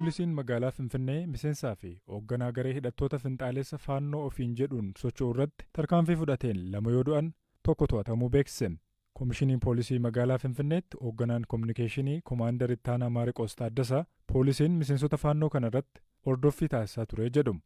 Poolisiin magaalaa Finfinnee miseensaa fi hoogganaa garee hidhattoota finxaaleessa Faannoo ofiin jedhuun socho'u irratti tarkaanfii fudhateen lama yoo du'an, tokko to'atamuu beeksise. Komishinii Poolisii magaalaa Finfinneetti hoogganaan kominikeeshinii Komaandar Ittaanaa Maariqoos Taaddasaa, poolisiin miseensota Faannoo kana irratti hordoffii taasisaa ture jedhu.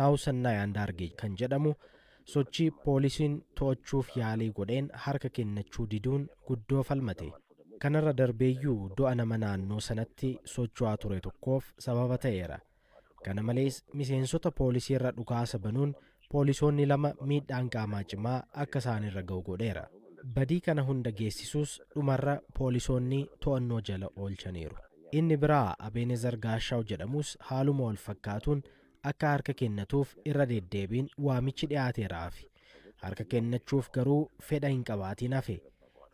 Naahusannaayi Andaargey kan jedhamu sochii poolisiin to'achuuf yaalii godheen harka kennachuu diduun guddoo falmate. Kanarra darbeeyyuu du'a nama naannoo sanatti socho'aa ture tokkoof sababa ta'eera. Kana malees miseensota poolisiirra dhukaasa banuun poolisoonni lama miidhaan qaamaa cimaa akka isaanirra ga'u godheera. Badii kana hunda geessisus dhumarra poolisoonni to'annoo jala oolchaniiru. Inni biraa Abeenezar Gaashaaw jedhamus haaluma walfakkaatuun akka harka kennatuuf irra deddeebiin waamichi dhiyaateeraafi harka kennachuuf garuu fedha hin qabaatiin hafe.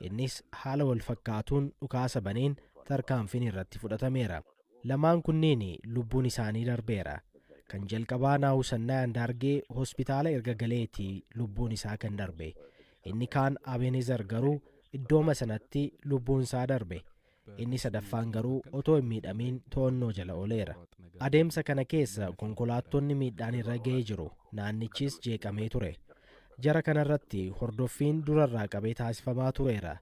Innis haala wal fakkaatuun dhukaasa baneen tarkaanfiin irratti fudhatameera. Lamaan kunneen lubbuun isaanii darbeera. Kan jalqabaa Naahusannaa Andaargee hospitaala erga galeeti lubbuun isaa kan darbe. Inni kaan Abeenezar garuu iddooma sanatti lubbuun isaa darbe. Inni sadaffaan garuu otoo hin miidhamiin to'annoo jala ooleera. Adeemsa kana keessa konkolaattonni miidhaan irra ga'ee jiru, naannichis jeeqamee ture. Jara kanarratti hordoffiin durarraa qabee taasifamaa tureera.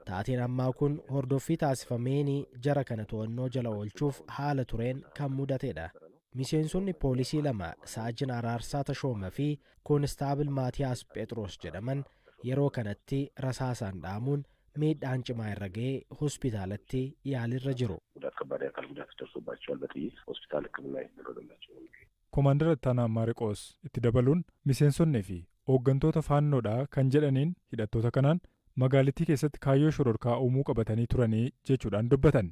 Taateen ammaa kun hordoffii taasifameen jara kana to'annoo jala oolchuuf haala tureen kan mudatedha. Miseensonni poolisii lama Saajin Araarsaa Tashooma fi Koonistaabil Maatiyaas Phexros jedhaman yeroo kanatti rasaasaan dhaamuun miidhaan cimaa irra ga'ee hospitaalatti yaaliirra jiru. Gudaat kabbaad akaal gudaat darsobaachawaal baxiyyiit hospitaal hikkiminaa itti darbammaachuu hime. Komaandar Ittaanaa Maariqoos itti dabaluun miseensonni fi ooggantoota Faannoo dha kan jedhaniin hidhattoota kanaan magaalittii keessatti kaayyoo shororkaa uumuu qabatanii turanii jechuudhaan dubbatan.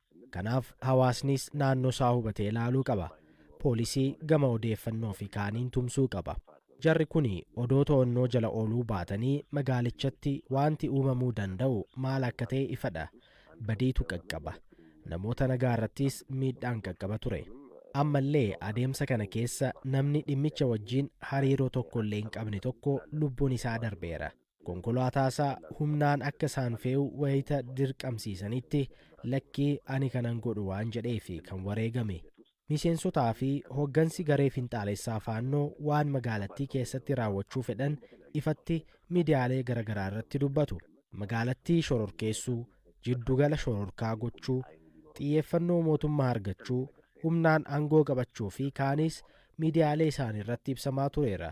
Kanaaf hawaasnis naannoo isaa hubatee ilaaluu qaba. Poolisii gama odeeffannoo fi kaaniin tumsuu qaba. Jarri kuni odoo to'annoo jala ooluu baatanii magaalichatti waanti uumamuu danda'u maal akka ta'e ifadha. Badiitu qaqqaba. Namoota nagaa irrattis miidhaan qaqqaba ture. Ammallee adeemsa kana keessa namni dhimmicha wajjin hariiroo tokkollee hin qabne tokko lubbuun isaa darbeera. Konkolaataasaa humnaan akka isaan fe'u wayita dirqamsiisanitti lakkii ani kanan godhu waan jedheef kan wareegame. Miseensotaa fi hoggansi garee finxaalessaa Faannoo waan magaalattii keessatti raawwachuu fedhan ifatti midiyaalee garagaraa irratti dubbatu. Magaalattii shororkeessuu, jiddugala shororkaa gochuu, xiyyeeffannoo mootummaa argachuu, humnaan angoo qabachuu fi kaanis midiyaalee isaaniirratti ibsamaa tureera.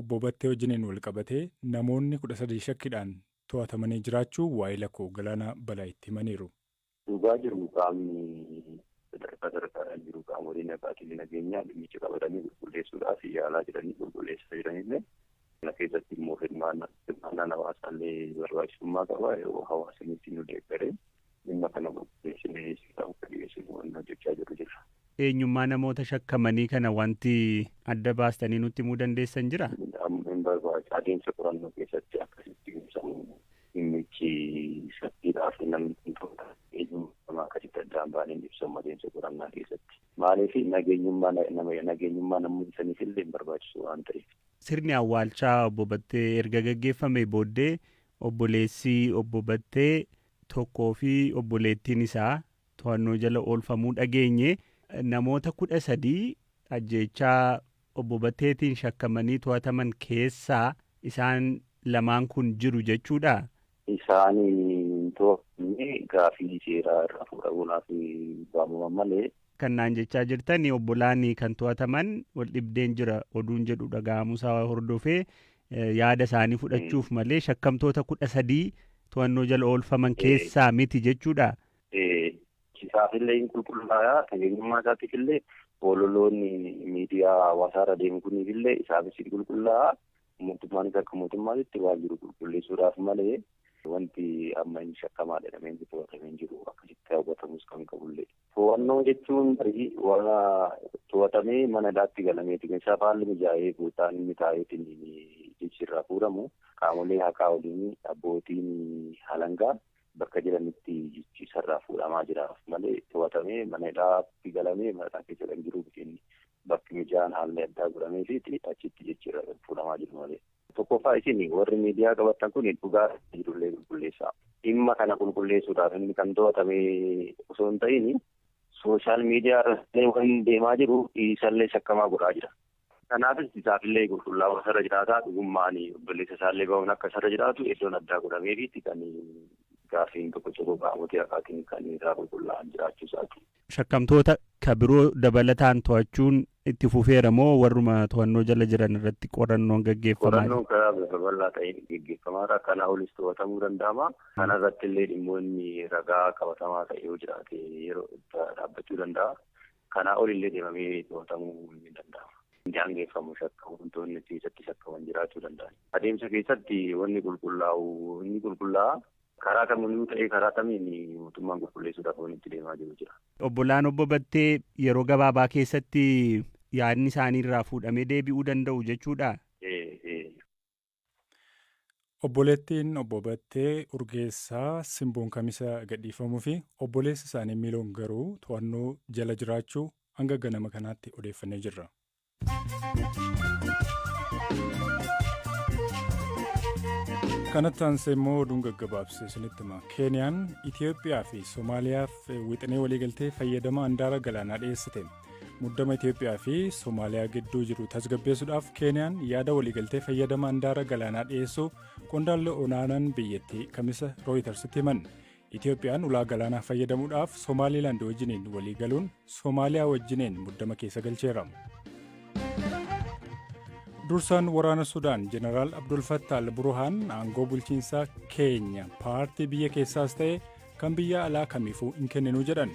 Obbo Battee wajjiniin walqabatee namoonni 13 shakkidhaan to'atamanii jiraachuu waahila koo Galaanaa Balaayitti himaniiru. Dhugaa jiru qaamni sadarkaa sadarkaadhaan jiru qaamolee nagaa tiin nageenyaa dhimmicha qabatanii qulqulleessuudhaaf yaalaa jiranii qulqulleessaa jiranillee kana keessatti immoo hirmaannaan hawaasaa illee barbaachisummaa qaba yoo hawaasni itti nu deeggaree Dhimma kana qulqulleessinee seera akka dhiyeessinu wanna hojjechaa jirru jirra. Eenyummaa namoota shakkamanii kana wanti adda baastanii nutti himuu dandeessan jira? Amma hin barbaachisu. Adeemsa qorannoo keessatti akka sitti ibsamu dhimmichi saffiidhaa fi namni kun to'ataa eenyummaa namaa akkasitti adda hin baaneen ibsamu adeemsa qorannaa keessatti. Maaliif nageenyummaa nageenyummaa namoota saniif illee hin barbaachisu waan ta'eef. Sirni awwaalchaa Obbo Battee erga gaggeeffamee booddee obboleessi Obbo Battee tokkoo fi obboleettiin isaa to'annoo jala oolfamuu dhageenye. Namoota 13 ajjeechaa Obbo Batteetiin shakkamanii to'ataman keessaa isaan lamaan kun jiru jechuudhaa? Isaan hin to'atamne. Gaaffii seeraa irraa fuudhamuudhaaf waamaman malee Kan naan jechaa jirtan obbolaan kan to'ataman wal dhibdeen jira oduun jedhu dhaga'amuusaa hordofee yaada isaanii fudhachuuf malee shakkamtoota kudha sadii to'annoo jala oolfaman keessaa miti jechuudha. Isaafillee hin qulqullaa'aa nageenyummaa isaatiifillee ololoonni miidiyaa hawaasaa irra deemu kuniifillee isaafis hin qulqullaa'aa mootummaanis akka mootummaatitti waan jiru qulqulleessuudhaaf malee wanti amma hin shakkamaa jedhamee hin to'atamee hin jiru akkasitti hawwatamus kan qabullee. To'annoo jechuun tarii warra to'atamee mana hidhaatti galameeti. Meeshaa haalli mijaa'ee buutaan inni taa'eetiin jechi irraa fuudhamu qaamolee haqaa waliin abbootiin alangaa bakka jiranitti jechi isarraa fuudhamaa jiraaf malee to'atamee mana hidhaatti galamee mana hidhaa keessa kan jiru miti inni. bakki mijaan haalli addaa godhameefiiti achitti jijjiirraa kan fuudhamaa jiru malee. Tokkoffaa isin warri miidiyaa qabattan kun dhugaa jirullee qulqulleessaa. Dhimma kana qulqulleessuudhaaf inni kan to'atame osoo hin ta'in sooshaal miidiyaa irratti waan deemaa jiru isallee shakkamaa godhaa jira. Kanaafis isaafillee qulqullaa'uu isarra jiraataa dhugummaan obboleessa isaallee bahuun akka isarra jiraatu iddoon addaa godhameefiitti kan gaaffiin tokko tokko qaamotii haqaatiin kan irraa qulqullaa'an jiraachuu isaati. Shakkamtoota ka biroo dabalataan to'achuun itti fufeera moo warruma to'annoo jala jiran irratti qorannoon gaggeeffamaa jira? Qorannoon karaa bifa bal'aa ta'een gaggeeffamaa jira. Kanaa olis to'atamuu danda'ama. Kana irratti illee dhimmoonni ragaa qabatamaa ta'e yoo jiraate yeroo dhaabbachuu danda'a. Kanaa ol illee deemamee to'atamuu ni danda'ama. Daangeffamu shakkamtoonni keessatti shakkaman jiraachuu danda'an. Adeemsa keessatti wanni qulqullaa'u ni qulqullaa'a. Karaa kamiinuu ta'ee karaa kamiin mootummaan qulqulleessuudhaaf waan itti deemaa jiru jira. Obbolaan Obbo Battee yeroo gabaabaa keessatti yaadni isaanii irraa fuudhamee deebi'uu danda'u jechuudhaa? Obboleettiin Obbo Battee Urgeessaa Simboon Kamisa gadhiifamuu fi obboleessi isaanii Miiloon garuu to'annoo jala jiraachuu hanga ganama kanaatti odeeffannee jirra. kanatti aansee immoo oduun gaggabaabse isinitti hima keeniyaan itiyoophiyaa fi soomaaliyaaf wixinee waliigaltee fayyadama andaara galaanaa dhiyeessite muddama itiyoophiyaa fi soomaaliyaa gidduu jiru tasgabbeessuudhaaf keeniyaan yaada waliigaltee fayyadama andaara galaanaa dhiyeessuu qondaalli olaanaan biyyattii kamisa rooyitarsitti himan Itoophiyaan ulaa galaanaa fayyadamuudhaaf Somaaliilaand wajjiniin walii galuun Somaaliyaa wajjineen muddama keessa galcheera. Dursaan waraana Sudaan Jeneraal Abdul Fattah al-Burhaan aangoo bulchiinsaa keenya paartii biyya keessaas ta'e kan biyya alaa kamiifuu hin kenninu jedhan.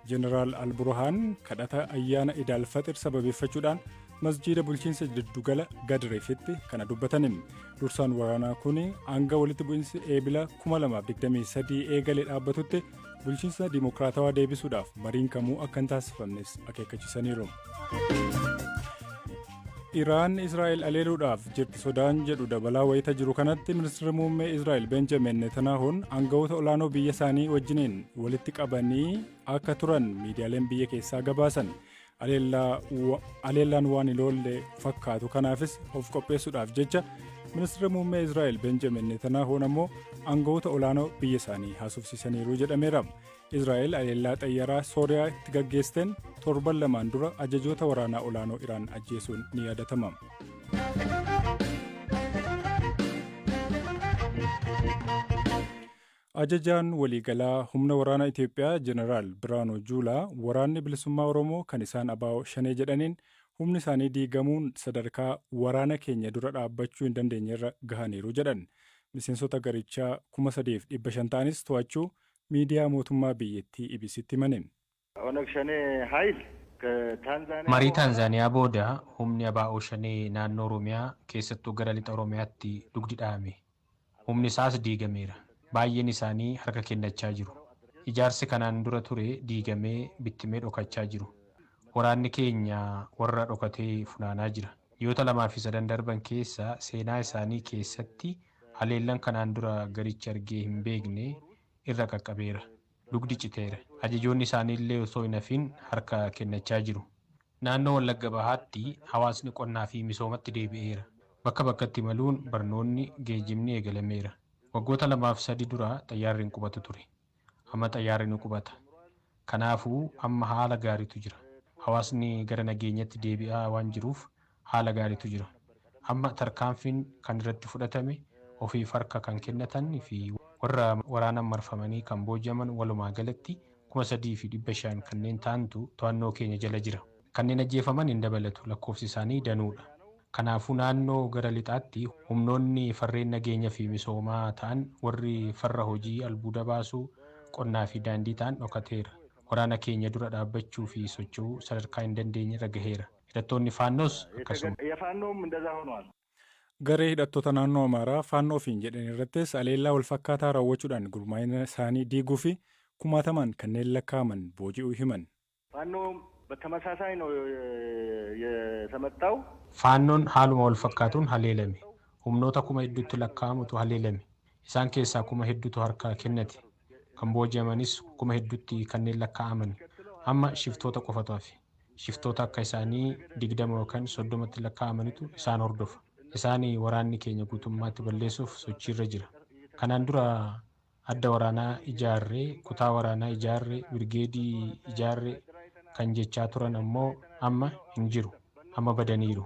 Jeneraal al-Burhaan kadhata ayyaana Idaal Faxir sababeeffachuudhaan masjiida bulchiinsa jiddugala gadreefitti kana dubbatanin dursaan waraanaa kun hanga walitti bu'insi eebila 2023 eegale dhaabbatutti bulchiinsa dimokiraatawaa deebisuudhaaf mariin kamuu akka hin taasifamnes akeekkachiisaniiru. Iraan Israa'el aleeluudhaaf jirti sodaan jedhu dabalaa wayita jiru kanatti ministeerri muummee Israa'el Benjamin Netanaahuun aangawoota olaanoo biyya isaanii wajjiniin walitti qabanii akka turan miidiyaaleen biyya keessaa gabaasan. Haleellaan waan hin oolle fakkaatu kanaafis of qopheessuudhaaf jecha ministeera muummee Israa'el Benjamin Netanaahoon ammoo aangawoota olaanoo biyya isaanii haasofsiisaniiru jedhameera. Israa'el haleellaa xayyaraa Sooriyaa itti gaggeessteen torban lamaan dura ajajoota waraanaa olaanoo Iraan ajjeesuun ni yaadatama. Ajajaan waliigalaa humna waraanaa Itoophiyaa Jeneraal Birhaanuu Juulaa Waraanni Bilisummaa Oromoo kan isaan abo Shanee jedhaniin humni isaanii diigamuun sadarkaa waraana keenya dura dhaabbachuu hin dandeenyerra gahaniiru jedhan. Miseensota garichaa 3,500 ta'anis to'achuu miidiyaa mootummaa biyyattii EBC'tti himaniin. Onag Shanee Hayil ka Taanzaaniyaa Marii Booranaa. Taanzaaniyaa booda humni abo Shanee naannoo Oromiyaa keessattuu gara Lixa Oromiyaatti dugdi dhahame. Humni isaas diigameera. Baay'een isaanii harka kennachaa jiru. Ijaarsi kanaan dura ture diigamee bittimee dhokachaa jiru. Waraanni keenya warra dhokate funaanaa jira. Ji'oota lamaa fi sadan darban keessa seenaa isaanii keessatti haleellan kanaan dura garichi argee hin beekne irra qaqqabeera. Dugdi citeera. Ajajoonni isaaniillee osoo hin hafiin harka kennachaa jiru. Naannoo Wallagga Bahaatti hawaasni qonnaa fi misoomatti deebi'eera. Bakka bakkatti imaluun barnoonni, geejibni eegalameera. Waggoota lamaaf sadi dura xayyaarri hin qubatu ture. Amma xayyaarri ni qubata. Kanaafuu amma haala gaariitu jira. Hawaasni gara nageenyatti deebi'aa waan jiruuf haala gaariitu jira. Amma tarkaanfiin kan irratti fudhatame ofiif harka kan kennatan fi warra waraanaan marfamanii kan booji'aman walumaa galatti 3,500 kanneen ta'antu to'annoo keenya jala jira. Kanneen ajjeefaman hin dabalatu, lakkoofsi isaanii danuudha. Kanaafuu naannoo gara lixaatti humnoonni farreen nageenya fi misoomaa ta'an warri farra hojii albuuda baasuu, qonnaa fi daandii ta'an dhokateera. Waraana keenya dura dhaabbachuu fi socho'uu sadarkaa hin dandeenyerra gaheera. Hidhattoonni Faannoos akkasuma. Faannoom indaza honwaal. Garee hidhattoota naannoo Amaaraa Faannoo ofiin jedhan irrattis aleellaa wal fakkaataa raawwachuudhaan gurmaa'ina isaanii diiguu fi kumaatamaan kanneen lakkaa'aman booji'uu himan. Faannoom batamasaasaayi no yetamettaaw. Faannoon haaluma wal fakkaatuun haleelame. Humnoota kuma hedduutti lakkaa'amutu haleelame. Isaan keessaa kuma hedduutu harkaa kennate. Kan booji'amanis kuma hedduutti kanneen lakkaa'aman. Amma shiftoota qofatu hafe. Shiftoota akka isaanii 20 yookan 30tti lakkaa'amanitu isaan hordofa. Isaan waraanni keenya guutummaatti balleessuuf sochiirra jira. Kanaan dura adda waraanaa ijaarre, kutaa waraanaa ijaarre, birgeedii ijaarre kan jechaa turan ammoo amma hin jiru. Amma badaniiru.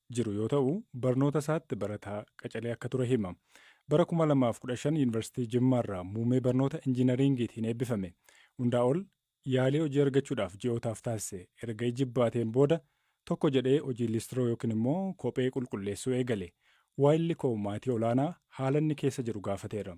jiru yoo ta'u, barnoota isaatti barataa qacalee akka ture hima. Bara 2015 Yuunivarsiitii Jimmaarraa muumee barnoota Injiinariingiitiin eebbifame. Hundaa ol yaalii hojii argachuudhaaf ji'ootaaf taasise erga ijibbaateen booda tokko jedhee hojii liistiroo yookiin immoo kophee qulqulleessuu eegale. Waayilli koo maatii olaanaa haala inni keessa jiru gaafateera.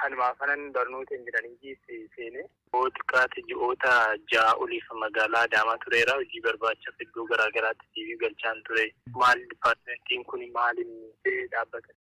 Kanumaa kanan barnoota injinariingiis seene. Yoo xiqqaate ji'oota ja'a oliif magaalaa Adaamaa tureera. Hojii barbaachaaf iddoo garaa garaatti CV galchaan ture. Maal dippaartimentiin kuni maal inni? Dhaabbata.